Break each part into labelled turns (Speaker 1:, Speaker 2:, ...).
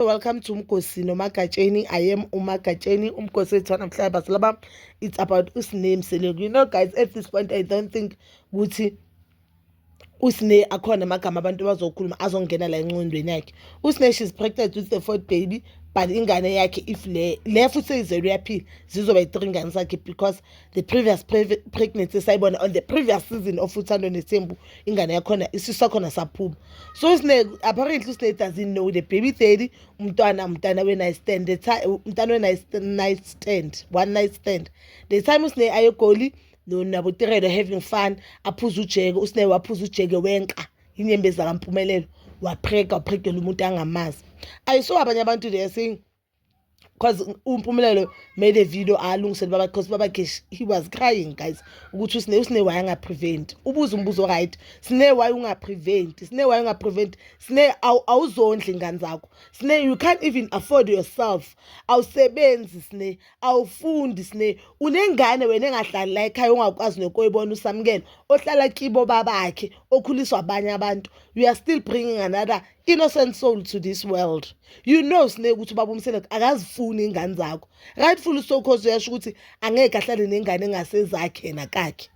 Speaker 1: Welcome to Mgosi noMagatsheni. I am uMagatsheni, uMgosi wethu namhlanje but laba it's about uSname Seleko. You know guys, at this point I don't think ukuthi usne akhona amagama abantu bazokhuluma azongena la enqondweni yakhe. Usne she's pregnant with the fourth baby but ingane yakhe if le le futhi seyizelwe yaphila zizoba i-three ngane zakhe because the previous pre pregnancy sayibona on the previous season of uthando nethembu ingane yakhona isisu sakhona saphuma so usine apparently usine doesn't know the baby daddy umntwana umntana we night stand the time umntana we night night stand one night stand the time usine ayegoli no nabo tirelo having fun aphuza ujeke usine waphuza ujeke wenka inyembezi kampumelelo wapheka waphekela umuntu angamazi ayiso abanye abantu they are saying because umpumelelo made a video alungisele baba because baba gesh he was crying guys ukuthi usine usine why angaprevent ubuza umbuzo right sine why ungaprevent sine why ungaprevent sine awuzondli ingane zakho sine you can't even afford yourself awusebenzi sine awufundi sine unengane wena engahlali la ekhaya ongakwazi nokoyibona usamukela ohlala kibo babakhe okhuliswa abanye abantu you are still bringing another innocent soul to this world you know sine ukuthi ubaba umsele akazifuni ingane zakho rightful so cause uyasho ukuthi angeke ahlale nengane engasezakhe nakakhe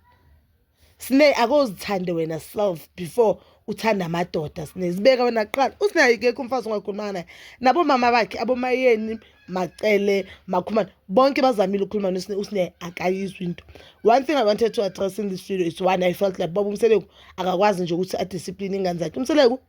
Speaker 1: sine akozithande wena self before uthanda amadoda sine zibeka wena kuqala usine ayikekho umfazi ongakhuluma naye nabo mama bakhe abomayeni macele makhumana bonke bazamile ukukhuluma nosine usine akayizwi into one thing i wanted to address in this video is one i felt like baba umseleku akakwazi nje ukuthi adiscipline ingane zakhe umseleku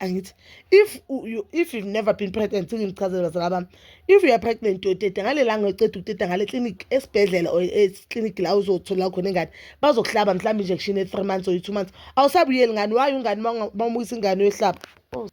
Speaker 1: angithi if you, if you've never been pregnant sengichazela bazala bami if you are pregnant uyoteta ngale langa uceda ukuteta ngale clinic esibhedlela or eclinic la uzothola khona ingane bazokuhlaba mhlawumbe injection e-three months or i-two months awusabuyeli ngani wayo ungane bamukisa ingane uyohlaba oh.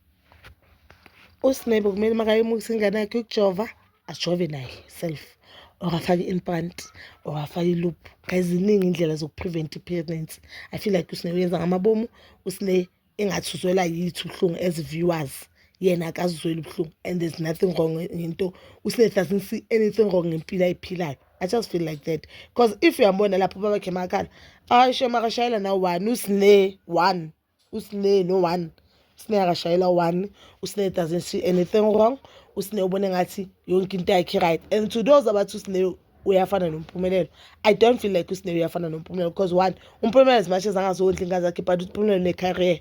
Speaker 1: usinebo kumele makayimukisa ingane yakhe ukujova ajove naye self or afake i-implant or afake i-loop kayiziningi iy'ndlela zokuprevent i-pregnancy i feel like usine uyenza ngamabomu usine engathi uzwela yithi ubuhlungu as viewers yena akazizweli ubuhlungu and there's nothing wrong ngento usinet doesn't see anything wrong ngempilo ayiphilayo i just feel like that because if uyambona lapho babakhe makhala ayi shem akashayela nawo one usine one usine no one usine akashayela one usine doesn't see anything wrong usine ubona ngathi yonke into yakhe right and to those abathi usine uyafana nompumelelo i don't feel like usine uyafana nompumelelo because one umpumelelo as much as angazondla ingane zakhe but umpumelelo unecareer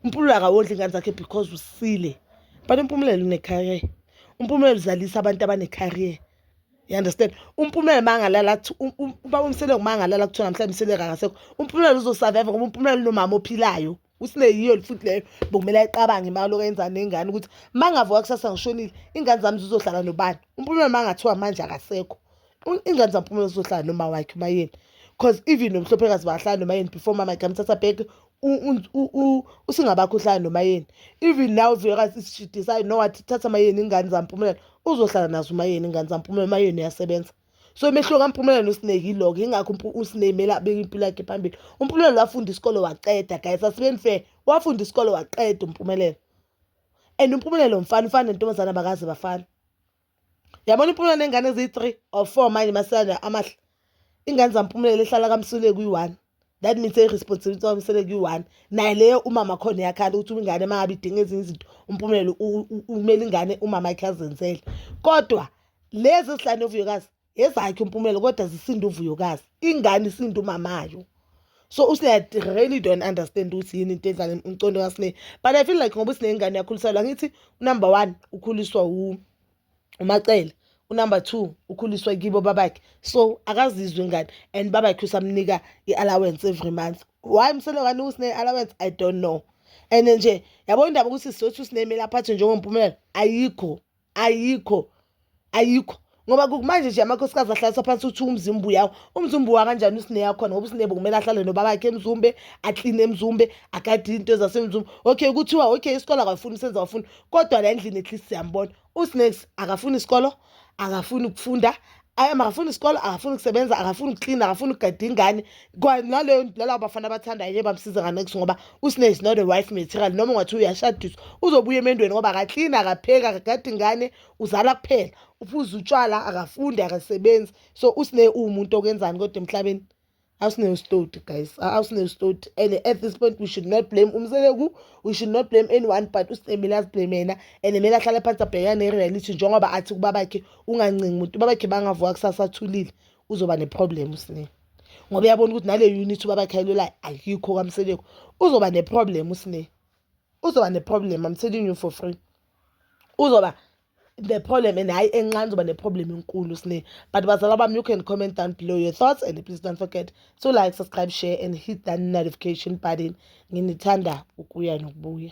Speaker 1: umpumelelo akawondla ingane zakhe because usile but umpumelelo unecareer umpumelelo uzalisa abantu abanecareer you understand umpumelelo mangalala um, um, uba umseleko mangalala kuthiwa namhlanje umseleko akasekho umpumelelo uzosurvive ngoba umpumelelo unomama ophilayo usine yiyo futhi leyo bokumele ayiqabange imali lokho yenza nengane ukuthi uma ngavuka kusasa ngishonile ingane zami zizohlala nobani umpumela uma ngathiwa manje akasekho ingane zampumela zizohlala noma wakhe uma yeni because even nomhlophekazi bahlala noma yeni before mama igamthatha back usingabakho uhlala noma yeni even now vuyekazi isishidisayo no wathi thatha mayeni ingane zampumela uzohlala nazo uma yeni ingane zampumela uma yeni uyasebenza so umehluko kampumelelo nosineki yiloko yingakho usineki kumele abeke impilo yakhe phambili umpumelelo wafunda isikole waqeda guys asibeni fair wafunda isikole waqeda umpumelelo and umpumelelo mfana ufana nentombazane abakaze bafana yabona impumelelo nengane eziyi-three or four manje masana amahle ingane zampumelelo ehlala kamsuleki uyi-one that means i-responsibility wami sele kuyi-one naye leyo umama khona yakhala ukuthi uma ingane mangabe idinga ezinye izinto umpumelelo umele ingane umama yakhe azenzele kodwa lezi ezihlane uvuyokazi ezakhe umpumelelo kodwa zisinde uvuyokazi ingane isinde umamayo so usine really don't understand ukuthi yini into edlala umcondo kasine but i feel like ngoba usinengane yakhuliselwa ngithi number one ukhuliswa wumi umacele unumber two ukhuliswe kibo babakhe so akazizwe ingane and babakhe usamnika i-allowance every month why msele ngani usine-allowance i don't know and nje yabo indaba ukuthi sizothi usinemeli aphathwe njengompumelelo ayikho ayikho ayikho ngoba kumanje nje amakhosikazi ahlalisa phansi uthi umzimba uyawo umzimba uwa kanjani usineya khona ngoba usinebo kumele ahlale nobabakhe emzumbe akline emzumbe agade into zasemzumbe okay kuthiwa okay isikole akafuni usenza wafuni kodwa la endlini at least siyambona usnakes akafuni isikolo akafuni ukufunda akafuni isikolo akafuni ukusebenza akafuni ukuklina akafuni ukugada ingane naleyo nalabo bafana abathandayo nje bamsiza nganekisi ngoba usne is not a wife material noma ungathi uyashadiswa uzobuya emendweni ngoba akaklini akapheki akagada ingane uzala kuphela uphuza utshwala akafundi akasebenzi so usne uwumuntu okwenzani kodwa emhlabeni awusinewustoti guys awusinewustoti and at this point we should not blame umseleku we should not blame anyone but usitemile aziblame yena and kumele ahlale phansi abhekane ne-reality njengoba athi kubabakhe ungancingi umuntu ubabakhe bangavuka kusasa athulile uzoba ne-problem usinika ngoba uyabona ukuthi nale unit ubabakhayelela ayikho kamseleko uzoba neproblem usine uzoba neproblem i'm telling you for free uzoba the problem and hayi encane uzoba ne-problem enkulu sine but bazala bami you can comment down below your thoughts and please don't forget to like subscribe share and hit that notification button nginithanda ukuya nokubuya